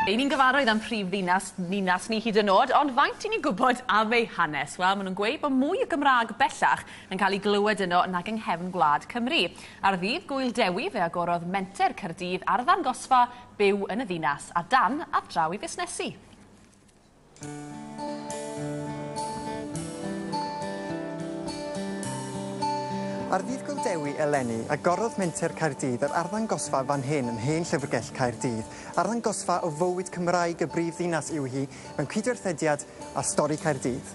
Ei ni'n gyfarwydd am prif ddinas ninas ni hyd yn oed, ond faint i ni'n gwybod am ei hanes? Wel, maen nhw'n gweud bod mwy o Gymraeg bellach yn cael ei glywed yno nag yng nghefn gwlad Cymru. Ar ddydd Gŵyl Dewi, fe agorodd Menter Caerdydd arddangosfa byw yn y ddinas, a dan, a draw i fusnesu. Ar ddydd Gyldewi eleni, agorodd Menter Caerdydd yr arddangosfa fan hyn yn Hen Llyfrgell Caerdydd. Arddangosfa o fywyd Cymraeg y brif ddinas yw hi, mewn cydwerthediad â Stori Caerdydd.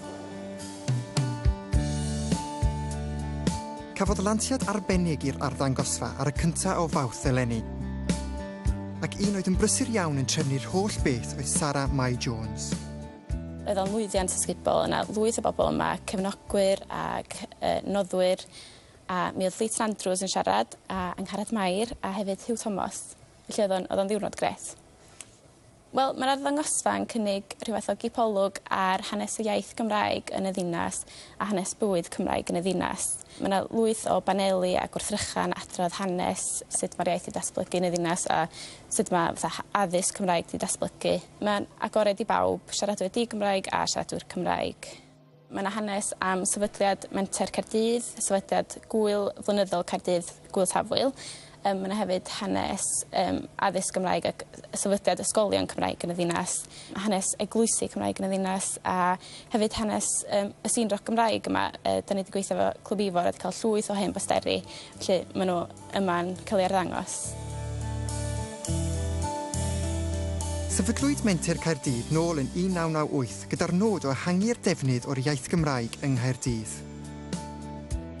Cafodd lansiad arbennig i'r arddangosfa ar y cyntaf o Fawrth eleni, ac un oedd yn brysur iawn yn trefnu'r holl beth oedd Sara Mai Jones. Roedd o'n lwyddiant ysgubol, yna lwyth o bobl yma, cefnogwyr ac yy noddwyr, a mi oedd Llwyth Andrews yn siarad, a Angharad Mair, a hefyd Huw Thomas. Felly oedd o'n oedd o'n ddiwrnod grêt. Wel, mae'r arddangosfa yn cynnig rhyw fath o gipolwg ar hanes y iaith Gymraeg yn y ddinas a hanes bywyd Cymraeg yn y ddinas. Mae yna lwyth o baneli a gwrthrychan adrodd hanes sut mae'r iaith wedi datblygu yn y ddinas a sut mae fatha addysg Cymraeg wedi datblygu. Mae'n agored i bawb, siaradwyr di-Gymraeg a siaradwyr Cymraeg. Mae yna hanes am sefydliad Menter Caerdydd, sefydliad gŵyl flynyddol Caerdydd, Gŵyl Tafwyl. Um, mae yna hefyd hanes um, addysg Gymraeg ac sefydliad ysgolion Cymraeg yn y ddinas, hanes eglwysi Cymraeg yn y ddinas a hefyd hanes um, y sîn roc Gymraeg yma. Uh, da ni wedi gweithio efo Clwb Ifor a wedi cael llwyth o hen bosteri, felly maen nhw yma'n cael ei arddangos. Sefydlwyd Menter Caerdydd nôl yn 1998 gyda'r nod o ehangu'r defnydd o'r iaith Gymraeg yng Nghaerdydd.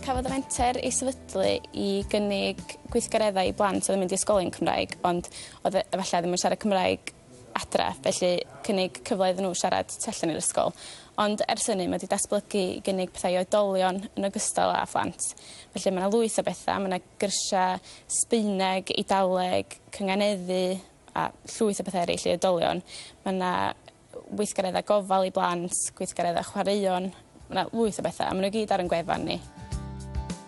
Cafodd y Menter ei sefydlu i gynnig gweithgareddau i blant oedd yn mynd i ysgolion Cymraeg ond oedd e- efallai ddim yn siarad Cymraeg. adre, felly cynnig cyfle iddyn nhw siarad tu allan i'r ysgol. Ond ers hynny mae 'di datblygu i gynnig pethau i oedolion yn ogystal â phlant. Felly mae 'na lwyth o bethau, mae 'na gyrsiau Sbaeneg, Eidaleg, cynganeddu a llwyth o bethau eraill i oedolion. Mae 'na weithgareddau gofal i blant, gweithgareddau chwaraeon, Mae 'na lwyth o bethau, a maen nhw i gyd ar ein gwefan ni.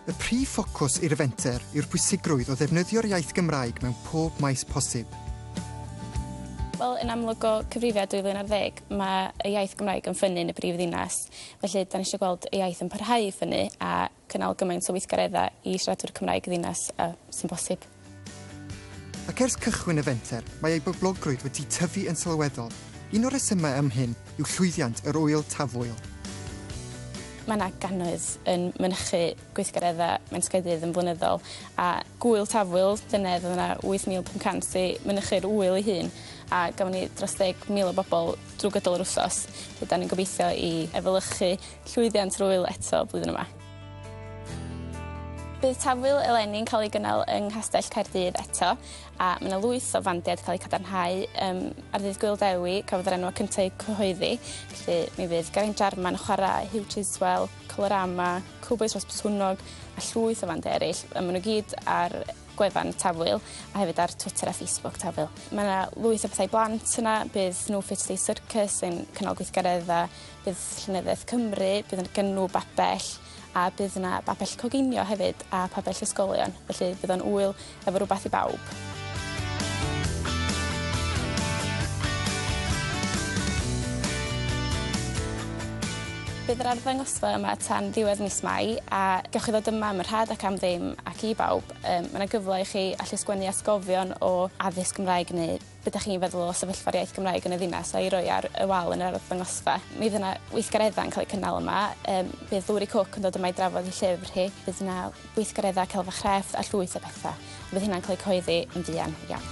Y prif ffocws i'r fenter yw'r pwysigrwydd o ddefnyddio'r iaith Gymraeg mewn pob maes posib. Wel, yn amlwg o cyfrifiad 2010, mae y iaith Gymraeg yn ffynnu yn y brif ddinas, felly 'da ni eisiau gweld y iaith yn parhau i ffynnu a cynnal gymaint o weithgareddau i siaradwyr Cymraeg ddinas â sy'n bosib. Ac ers cychwyn y fenter, mae ei boblogrwydd wedi tyfu yn sylweddol. Un o'r rhesymau am hyn yw llwyddiant yr Ŵyl Tafwyl. Mae yna gannoedd yn mynychu gweithgareddau Mentrgydydd yn flynyddol, a Gŵyl Tafwyl llynedd oedd yna 8,500 i mynychu'r ŵyl ei hun, a gafon ni dros 10,000 o bobl drwy gydol yr wsos. Felly, da ni'n gobeithio i efelychu Llwyddiant yr ŵyl eto flwyddyn yma. Bydd Tafwyl eleni'n cael ei gynnal yng Nghastell Caerdydd eto a mae yna lwyth o fandiau'n cael eu cadarnhau. Um, ar ddydd Gwyl Dewi, cafodd yr enwau cyntaf eu cyhoeddi, felly mi fydd Geraint Jarman yn chwarae, Hugh Chiswell, Colorama, Cowboys Ros Botwnog a llwyth o fandiau eraill. Um, maen nhw gyd ar gwefan Tafwyl a hefyd ar Twitter a Facebook Tafwyl. Mae yna lwyth o bethau blant yna, bydd nhw Fit Day Circus yn cynnal gweithgareddau Bydd Llenyddiaeth Cymru, bydd yn gynnw babell a bydd 'na babell coginio hefyd a pabell ysgolion felly bydd o'n ŵyl efo rwbath i bawb. Bydd yr arddangosfa yma tan ddiwedd mis Mai a gewch chi ddod yma am y rhad ac am ddim ac i bawb yym ma' 'na gyfle i chi allu sgwennu atgofion o addysg Gymraeg neu Be dach chi'n feddwl o sefyllfa'r iaith Gymraeg yn y ddinas a'i roi ar y wal yn yr arddangosfa? Mi fydd 'na weithgareddau'n cael eu cynnal yma. Yym bydd Lowri Cooke yn dod yma i drafod ei llyfr hi. Bydd 'na weithgareddau celf a chrefft a llwyth o betha. Bydd hynna'n cael eu cyhoeddi yn fuan iawn.